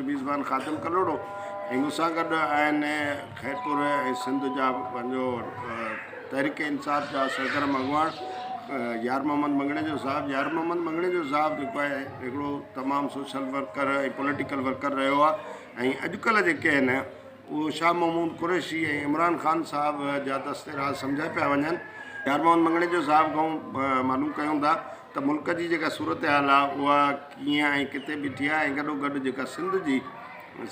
ميزبان خادم ڪلهوڙو ۽ مون سان گڏ آهن خيرپور ۽ سنڌ جا پنهنجو تحريڪ انصاف جا سرگرم اڳواڻ يار محمد مڱڻيجو صاحب يار محمد مڱڻيجو صاحب جيڪو آهي هڪڙو تمام سوشل ورڪر ۽ پوليٽيڪل ورڪر رهيو آهي ۽ اڄڪلهه جيڪي آهن اهو شاهه محمود قريشي ۽ عمران خان صاحب جا دست راز سمجهيا پيا وڃن يار محمد مڱڻيجو صاحب کان معلوم ڪيون ٿا ته ملڪ جي جيڪا صورتحال آ اها ڪيئن ۽ ڪٿي بيٺي آ ۽ گڏوگڏ جيڪا سنڌ جي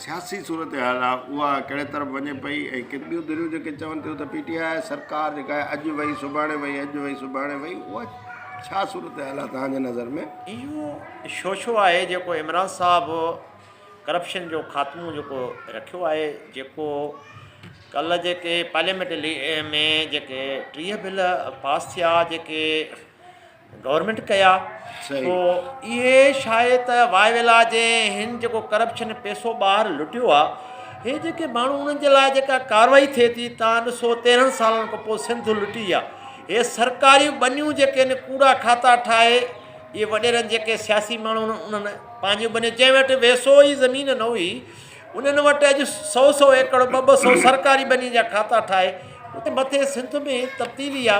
سياسي صورتحال آ اها ڪهڙي طرف وڃي پئي ۽ ڪن ٻيون ڌريون جيڪي چون ٿيون ته پي ٽي آء سرڪار جيڪا آهي اڄ وئي سڀاڻي وئي اڄ وئي سڀاڻي وئي اها ڇا صورتحال آ توهان جي نظر ۾؟ اهو شوشو آهي جيڪو عمران صاحب ڪرپشن جو خاتمو جيڪو رکيو آهي جيڪو ڪلهه جيڪي پارليامينٽ ۾ جيڪي ٽيهه بل پاس ٿيا جيڪي گورنمينٽ ڪيا پوء اهي شايد ته واء ويلا جي هن جيڪو ڪرپشن پيسو ٻاهر لٽيو آ هي جيڪي ماڻهو انهن جي لاء جيڪا ڪاروائي ٿئي ٿي تان ڏسو تيرهن سالن کان پوء سنڌ لٽي آ هي سرڪاري ٻنيون جيڪي ان ڪوڙا کاتا ٺاهي اهي وڏيرن جيڪي سياسي ماڻهو انهن پنهنجي ٻنيون جنهن وٽ ويسو ئي زمين نه هئي انهن وٽ اڄ سو سو ايڪڙ ٻه ٻه سو سرڪاري ٻني جا کاتا ٺاهي اتي مٿي سنڌ ۾ تبديلي آ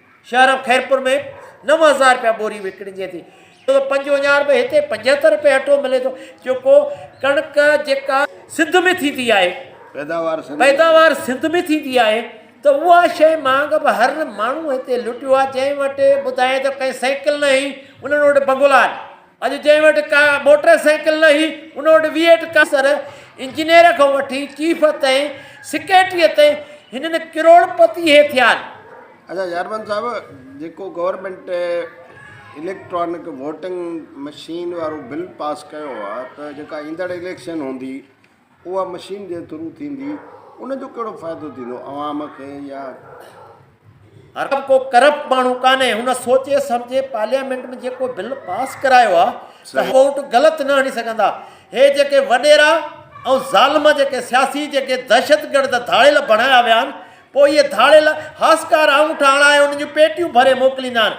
شهر خيرپور ۾ نو هزار رپيا ٻوري وڪڻجي ٿي ڇو ته پنجونجار به هتي پنجهتر رپي اٽو ملي ٿو جيڪو ڪڻڪ جيڪا سنڌ ۾ ٿيندي آهي پيداوار سنڌ ۾ ٿيندي آهي ته اها شيء مانگ به هر ماڻهو هتي لٽيو آهي جنهن وٽ ٻڌائين ته ڪنهن سائيڪل نه هئي انهن وٽ بنگلا آهن اڄ جنهن وٽ ڪا موٽر سائيڪل نه هئي، ان وٽ ويهه ٽڪا سر انجنيئر کان وٺي چيف تائين، سيڪريٽريء تائين هنن ڪروڙپتي هي ٿيا آهن. اچا چيئرمين صاحب جيڪو گورنمينٽ اليڪٽرانڪ ووٽنگ مشين وارو بل پاس ڪيو آهي ته جيڪا ايندڙ اليڪشن هوندي اها مشين جي ٿرو ٿيندي ان جو ڪهڙو فائدو ٿيندو عوام کي يا. ڪو به ڪرپٽ ماڻهو ڪانهي هن سوچي سمجهي پارليامينٽ ۾ جيڪو بل پاس ڪرايو آ ته ووٽ غلط نه هڻي سگهندا هي جيڪي وڏيرا ۽ ظالم جيڪي سياسي جيڪي دهشتگرد ڌاڙيل بڻايا ويا آهن پوء اهي ڌاڙيل هاسڪار آڱوٺا هڻائي انهن جون پيٽيون ڀري موڪليندا آهن.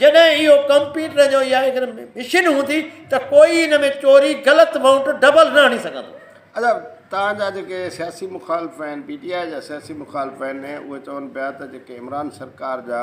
جڏهن اهو ڪمپيوٽر جو يا اگر مشين هوندي ته ڪوئي ان ۾ چوري، غلط مائونٽ، ڊبل نه هڻي سگهندو. اچا توهان جا جيڪي سياسي مخالف آهن، پي ٽي آء جا سياسي مخالف آهن اهي چون پيا ته جيڪي عمران سرڪار جا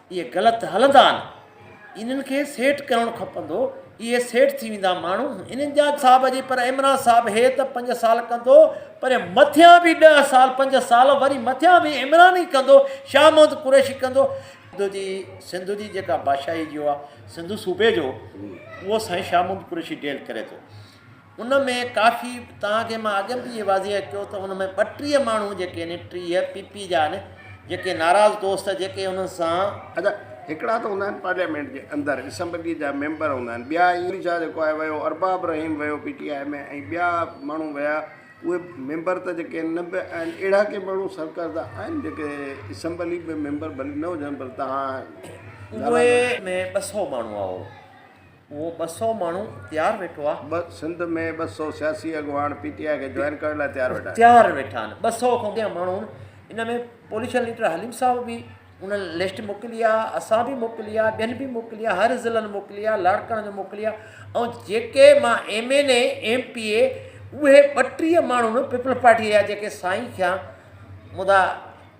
اهي غلط هلندا آهن انهن کي سيٽ ڪرڻو کپندو اهي سيٽ ٿي ويندا ماڻهو انهن جا صاحب جي پر عمران صاحب هي ته پنج سال ڪندو پر مٿيان به ڏهه سال پنج سال وري مٿيان به عمران ئي ڪندو شاهه محمد قريشي ڪندو سنڌو جي سنڌو جي جيڪا بادشاهي جو آهي سنڌو صوبي جو اهو سائين شاهه محمد قريشي ڊيل ڪري ٿو ان ۾ ڪافي توهان کي مان اڳ به اهي واضح ڪيو ته ان ۾ ٻٽيهه ماڻهو جيڪي آهن ٽيهه پي پي جا آهن جيڪي ناراض دوست جيڪي انهن سان. ادا هڪڙا ته هوندا آهن پارليامينٽ جي اندر اسمبلي جا ميمبر هوندا آهن ٻيا اي ايم شاهه جيڪو آهي ويو ارباب رحيم ويو پي ٽي آئي ۾ ۽ ٻيا ماڻهو ويا اهي ميمبر ته جيڪي آهن نه به آهن اهڙا ڪي ماڻهو سرڪرده آهن جيڪي اسمبلي به ميمبر ڀلي نه هجن پر توهان اهي ۾ ٻه سئو ماڻهو آهو. اهو ٻه سؤ ماڻهو تيار ويٺو آهي. ٻه سنڌ ۾ ٻه سؤ سياسي اڳواڻ پي ٽي آء کي جوائن ڪرڻ لاء تيار ويٺا آهن. تيار ويٺا آهن ٻه سؤ کان وڌيڪ ماڻهو ان ۾ پوليشن ليڊر حليم صاحب به ان لسٽ موڪلي آهي اسان به موڪلي آهي ٻين به موڪلي آهي هر ضلعن موڪلي آهي لاڙڪاڻي جو موڪلي آهي ۽ جيڪي مان M N A M P A اهي ٻٽيهه ماڻهو پيپلز پارٽي جا جيڪي سائين ٿيا مدا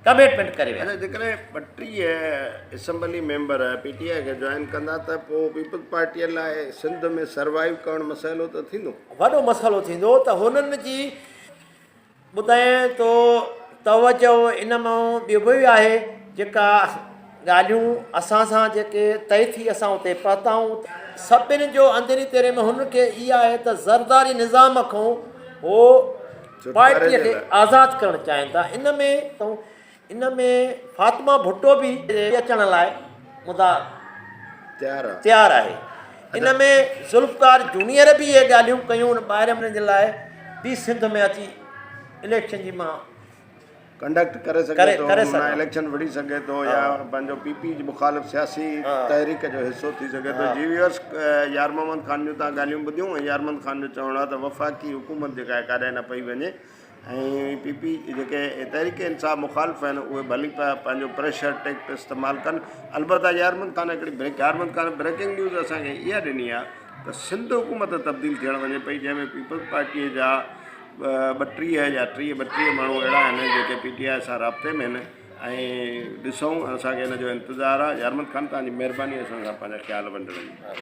ڪميٽمينٽ ڪري ويا. اچا جيڪڏهن ٻٽيهه assembly member P T I کي جوائن ڪندا ته پوء پيپلز پارٽيء لاء سنڌ ۾ سروائيو ڪرڻ مسئلو ته ٿيندو؟ وڏو مسئلو ٿيندو ته هنن جي ٻڌائين تو توجه ان مان ٻيو به آهي جيڪا ڳالهيون اسان سان جيڪي طئي ٿي اسان اتي پهتائون ته سڀني جو اندرين تيرين ۾ هنن کي اها آهي ته زرداري نظام کان هو پارٽيء کي آزاد ڪرڻ چاهين ٿا ان ۾ ان ۾ فاطمه ڀٽو به اچڻ لاء مدعا تيار آهي ان ۾ ذوالفقار جونيئر به اهي ڳالهيون ڪيون ان ٻاهرمن جي لاء به سنڌ ۾ اچي اليڪشن جي مان ڪنڊڪٽ ڪري سگهي ٿو معنيٰ اليڪشن وڙهي سگهي ٿو يا پنهنجو پي پي جي مخالف سياسي تحريڪ جو حصو ٿي سگهي ٿو جي ويورس يار محمد خان جون تان ڳالهيون ٻڌيون ۽ يار محمد خان جو چوڻ آهي ته وفاقي حڪومت جيڪا آهي ڪاڏانهن نه پئي وڃي ۽ پي پي جيڪي تحريڪ انصاف مخالف آهن اهي ڀلي پيا پنهنجو پريشر ٽيڪٽ استعمال ڪن البته يار محمد خان هڪڙي break Yar Muhammad Khan breaking news اسان کي اها ڏني آهي ته سنڌ حڪومت تبديل ٿيڻ وڃي پئي جنهن ۾ پيپلز پارٽي جا ٻٽيهه يا ٽيهه ٻٽيهه ماڻهو اهڙا آهن جيڪي پي ٽي آء سان رابطي ۾ آهن ۽ ڏسون اسانکي ان جو انتظار آهي يارمل خان تنهنجي مهرباني اسان سان پنهنجا خيال ونڊڻ جي.